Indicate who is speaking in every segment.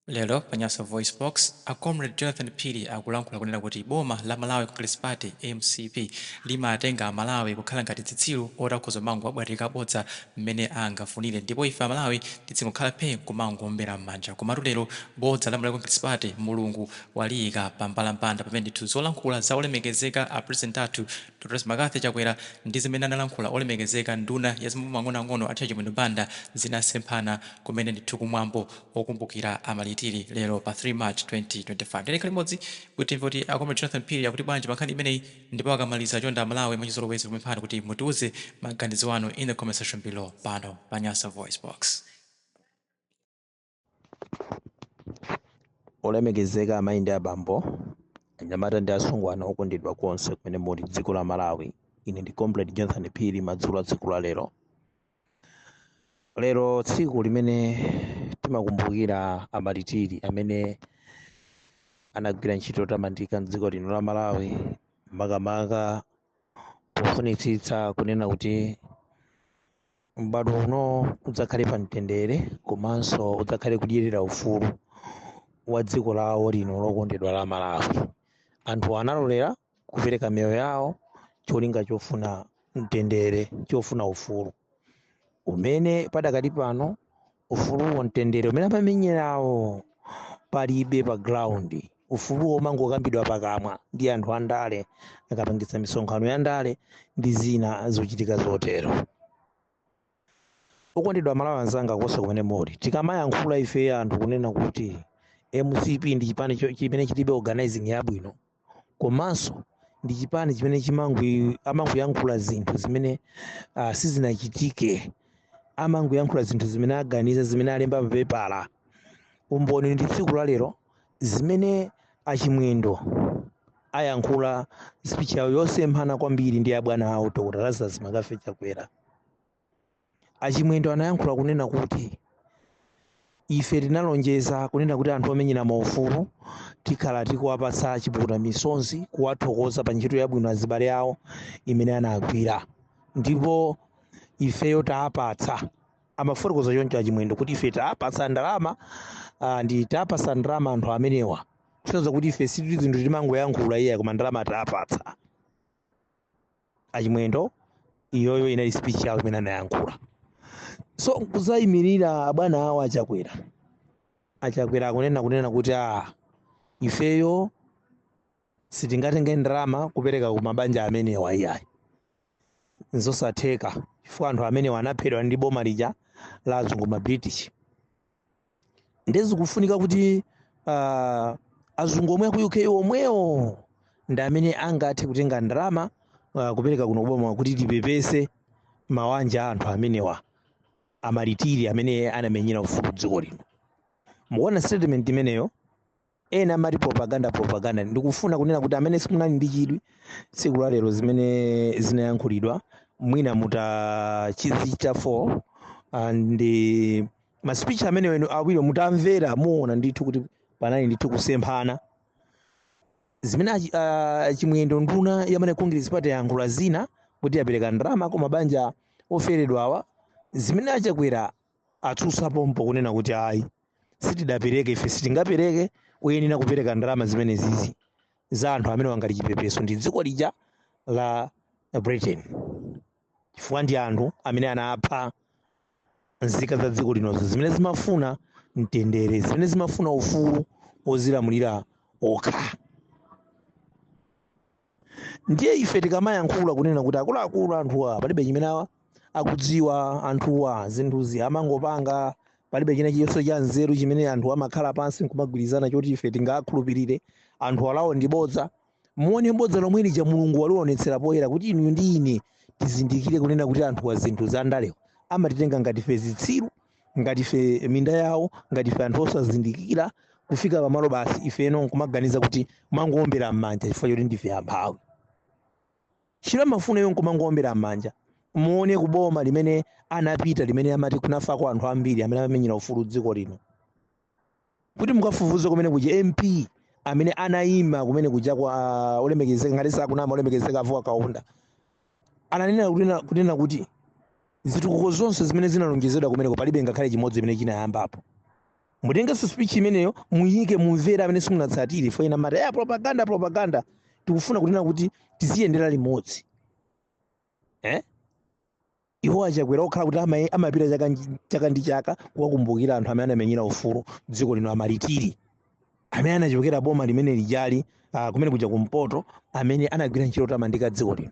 Speaker 1: Lero pa Nyasa VoiceBox, a Comrade Jonathan Phiri akulankhula kunena kuti boma la Malawi Congress Party, mcp, limatenga a Malawi kukhala ngati dzitsiru oti akhoza kumangowabwatirika bodza mmene angafunire ndipo ife a Malawi tidzingokhala phee nkumangoombera mmanja. Komatu lero bodza la Malawi Congress Party Mulungu waliyika pa mbalambanda pamene ndithu zolankhula za olemekezeka a President athu Dr Lazarus Mccarthy Chakwera ndi zimene analankhula olemekezeka nduna ya zamaboma ang'onoang'ono a Chimwendo Banda zinasemphana kumene ndithu ku mwambo okumbukira amalitiri lero pa 3 March 2025. Ndiye tikhale limodzi kuti timve kuti a Comrade Jonathan Phiri akuti bwanji pa nkhani imeneyi ndipo akamaliza chonde a Malawi mwachizolowezi tikupemphani kuti mutiuze maganizo anu in the comment section below pano pa Nyasa Voice Box.
Speaker 2: Olemekezeka amayi ndi abambo, anyamata ndi asungwana okondedwa konse kumene muli m'dziko la Malawi, ine ndi Comrade Jonathan Phiri madzulo a tsiku la lero lero tsiku limene timakumbukira amalitiri amene anagwira ntchito yotamandika mdziko lino la malawi makamaka pofunitsitsa kunena kuti m'bado uno udzakhale pa mtendere komanso udzakhale kudyerera ufulu wa dziko lawo lino lokondedwa la malawi anthu analolera kupereka miyoyo yawo cholinga chofuna mtendere chofuna ufulu umene padakali pano ufuluwo mtendere umene amamenyerawo palibe pa ground ufuluwo umangokambidwa pakamwa ndi anthu andale akapangitsa misonkhano ya ndale ndi zina zochitika zotero Okondedwa amalawi anzanga konse kumene muli, tikamayankhula ife anthu kunena kuti mcp ndi chipani cho- chimene chilibe organizing yabwino komanso ndi chipani chimene chimangwi amangoyankhula zinthu zimene uh, sizinachitike amangoyankhula zinthu zimene aganiza zimene alemba papepala umboni ndi tsiku la lero zimene achimwendo ayankhula speech yawo yosemphana kwambiri ndi abwana awo dr lazarus mccarthy chakwera a Chimwendo anayankhula kunena kuti ife tinalonjeza kunena kuti anthu omenyera maufulu tikhala tikuwapatsa chipukuta misonzi kuwathokoza pa ntchito yabwino azibale awo imene anagwira ndipo ifeyo taapatsa amafotokoza choncho achimwendo kuti ife taapatsa ndalama ah, ndi taapatsa ndalama anthu amenewa kusonyeza kuti ife si zinthu timangoyankhula iyayi koma ndalama taapatsa achimwendo iyoyo inali speech yawo imene anayankhula so nkuzayimirira abwana awo achakwera achakwera akunena kunena kuti a ifeyo sitingatenge ndalama kupereka ku mabanja amenewa iyayi nzosatheka chifukwa anthu amenewa anaphedwa ndi boma lija la azungu ma british nde zikufunika kuti uh, azungu omwe aku uk omwewo ndi amene angathe kutenga ndalama uh, kupereka kuno kuboma kuti tipepese mawanja a anthu amenewa amalitiri amene anamenyera ufulu wa dziko lino mukuona statement imeneyo ena amati propaganda propaganda ndikufuna kunena kuti amene simunali ndi chidwi tsiku la lero zimene zinayankhulidwa mwina mutachizicha 4 and eh, ma speech amene wenu awiri mutamvera muona ndithu kuti panali ndithu kusemphana zimene achi- ah, chimwendo nduna ya malawi congress party yayankhula zina kuti yapereka ndalama ku mabanja oferedwawa zimene achakwera atsutsa pompo kunena kuti ayi sitidapereke ife sitingapereke oyenera kupereka ndalama zimenezizi za anthu amene awa ngati chipepeso ndi dziko lija la britain chifukwa ndi anthu amene anapha nzika za dziko linozo zimene zimafuna mtendere zimene zimafuna ufulu wozilamulira okha ndiye ife tikamayankhula kunena kuti akuluakulu anthuwa palibe chimene awa akudziwa anthuwa zinthuzi amangopanga palibe china chilichonse cha nzeru chimene anthu amakhala pansi nkumagwirizana choti ife tingakhulupirire anthu awa ndi bodza muone bodza lomwe lija mulungu walionetsera poyera kuti inu ndi ine tizindikire kunena kuti anthuwa zinthu za ndalewo amatitenga ngati ife zitsiru ngati ife minda yawo ngati ife anthu osazindikira kufika pamalo basi ifeno nkumaganiza kuti kumangoombera m'manja chifukwa choti ndife amphawi chimene amafuna iwo nkumangoombera m'manja muone kuboma limene anapita limene amati kunafako anthu ambiri amene anamenyera ufulu dziko lino kuti mukafufuze kumene kuja mp amene anayima kumene kuja kwa ah, olemekezeka ngati sakunama olemekezeka a vuwa kaunda ananena kunena, kunena kuti zitukuko zonse zimene zinalonjezedwa kumeneko palibe ngakhale chimodzi chimene chinayambapo mutengenso speech imeneyo muyike mumvere amene simunatsatire poti ena amati ndi propaganda propaganda tikufuna kunena kuti tiziyendera limodzi eh? iwo achakwera okhala kuti ama- amapita chaka nji- chaka ndi chaka kuwakumbukira anthu amene anamenyera ufulu dziko lino amalitiri amene anachokera boma limene lijali uh, kumene kuja kumpoto amene anagwira ntchito yotamandika dziko lino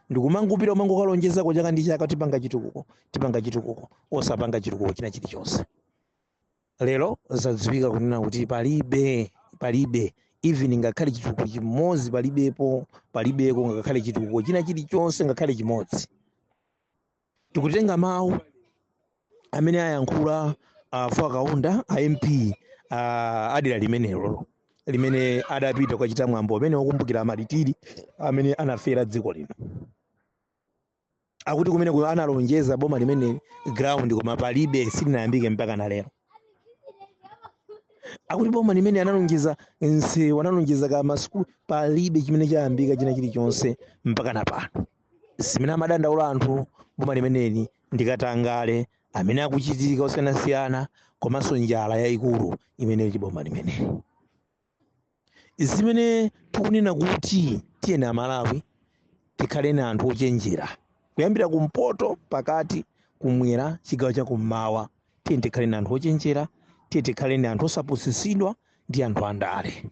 Speaker 2: ndikumangopita kumangokalonjezako chaka ndi chaka tipanga chitukuko tipanga chitukuko osapanga chitukuko china chilichonse lero zadziwika kunena kuti palibe palibe even ngakhale chitukuko chimodzi palibepo palibeko ngakhale chitukuko china chilichonse ngakhale chimodzi tikutenga mawu amene ayankhula uh, a vuwa kaunda a mp uh, adera limenelo limene adapita kukachita mwambo amene wokumbukira amalitiri amene anafera dziko lino akuti kumene ku- analonjeza boma limeneli ground koma palibe silinayambike mpaka na lero akuti boma limene analonjeza nsewu analonjeza ka masukulu palibe chimene chayambika china chilichonse mpaka na pano zimene amadandaula anthu boma limeneli ndi katangale amene akuchitika osiyanasiyana komanso njala yayikulu imene ili boma limeneli zimene tikunena kuti tiyeni amalawi tikhale ni anthu ochenjera kuyambira kumpoto pakati kumwera chigawo cha kummawa tiyeni tikhale ni anthu ochenjera tiyeni tikhale ni anthu osapusitsidwa ndi anthu andale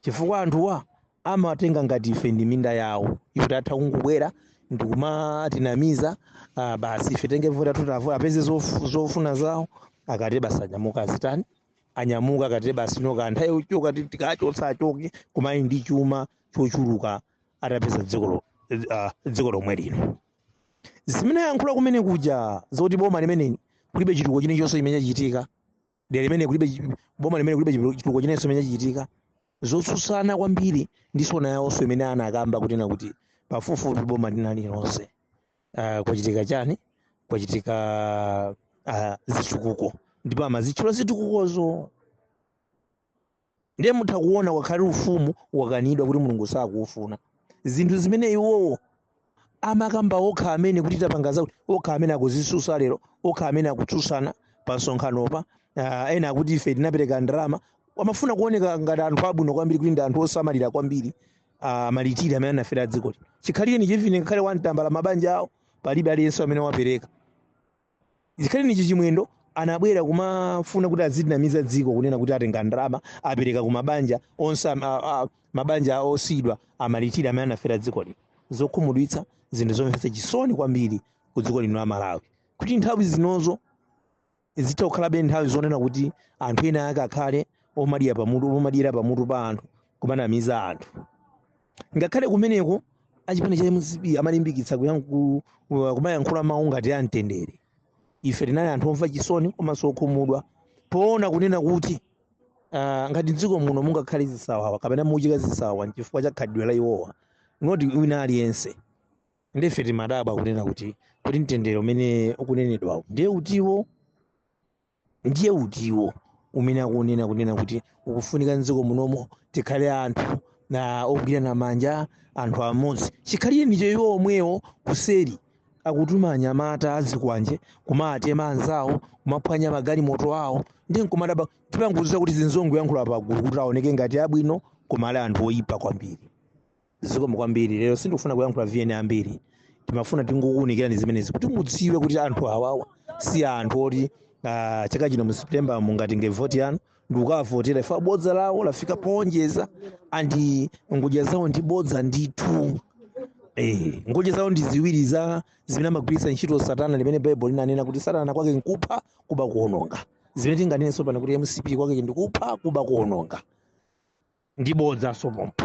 Speaker 2: chifukwa anthuwa amatenga ngati ife ndi minda yawo yoti atha kungobwera ndikumatinamiza uh, basi ife tenge voti athu tavota apeze zof- zofuna zawo akati basi anyamuka azitani anyamuka akati basi ino ka nthawi yochoka ti- tikachotsa achoke koma ali ndi chuma chochuluka atapeza dziko lo- ah, dziko lomwe lino zimene ayankhula kumene kuja zoti boma limeneli kulibe chitukuko chilichonse chimene chachitika dera limene kulibe chi- boma limene kulibe chitu- chitukuko chilichonse chimene chachitika zotsutsana kwambiri ndi sona yawonso imene anakamba kunena kuti pafupifupi boma lina lililonse uh, kwachitika chani kwachitika uh, zitukuko ndipo amazitchula zitukukozo ndiye mutha kuona wakhale ufumu wakanidwa kuti mulungu sakuufuna zinthu zimene iwowo amakamba okha amene kuti tapanga zakuti okha amene akuzitsutsa lero okha amene akutsutsana pa msonkhanopa uh, ena akuti ife tinapereka ndalama amafuna kuoneka ngati anthu abwino kwambiri kuti ndi anthu osamalira kwambiri amalitiri amene anafera dziko lino chikhalirenicho even ngakhale one tambala mabanja awo palibe aliyense amene wapereka Chikhalirenicho Chimwendo anabwera kumafuna kuti azitinamiza dziko kunena kuti atenga ndalama apereka ku mabanja onse am- a- a- mabanja a osiyidwa amalitiri amene anafera dziko lino. Zokhumudwitsa zinthu zomvetsa chisoni kwambiri ku dziko lino la Malawi kuti nthawi zinozo zitha kukhalabe nthawi zonena kuti anthu ena ake akhale omadya pamutu omadyera pamutu pa anthu kumanamiza anthu ngakhale kumeneko achipani cha mcp amalimbikitsa kuyankhu- ku- kumayankhula mawu ngati a mtendere ife tinali anthu omva chisoni komanso okhumudwa poona kunena kuti ah, ngati mdziko muno mungakhale zisawawa kapena muchitika zisawawa nchifukwa cha khalidwe la iwowa not wina aliyense ndife timadabwa kunena kuti kuti mtendere umene ukunenedwawo ndiye utiwo ndiye utiwo umene akunena kunena kuti ukufunika mdziko munomo tikhale anthu na ogwirana manja anthu amodzi chikhalirenicho iwo omwewo kuseri akutuma anyamata azikwanje kumatema anzawo kumaphwanya magalimoto awo ndiye nkumadabwa tipanguziza kuti azingoyankhula pagulu kuti aoneke ngati abwino koma ali anthu oyipa kwambiri zikomo kwambiri lero sindikufuna kuyankhula ma VN ambiri timafuna tingokuunikirani zimenezi kuti mudziwe kuti anthu awawa si anthu oti ah, chaka chino mu september mungatenge voti yanu ndikukavotera iwo bodza lawo lafika poonjeza and ngodya zawo ndi bodza ndithu Eh, ngodya zawo ndi ziwiri zija zimene amagwiritsa ntchito satana limene baibulo linanena kuti satana kwake nkupha kuba kuononga zimene tinganenenso pano kuti mcp kwake ndikupha kuba kuononga ndi bodza so pompo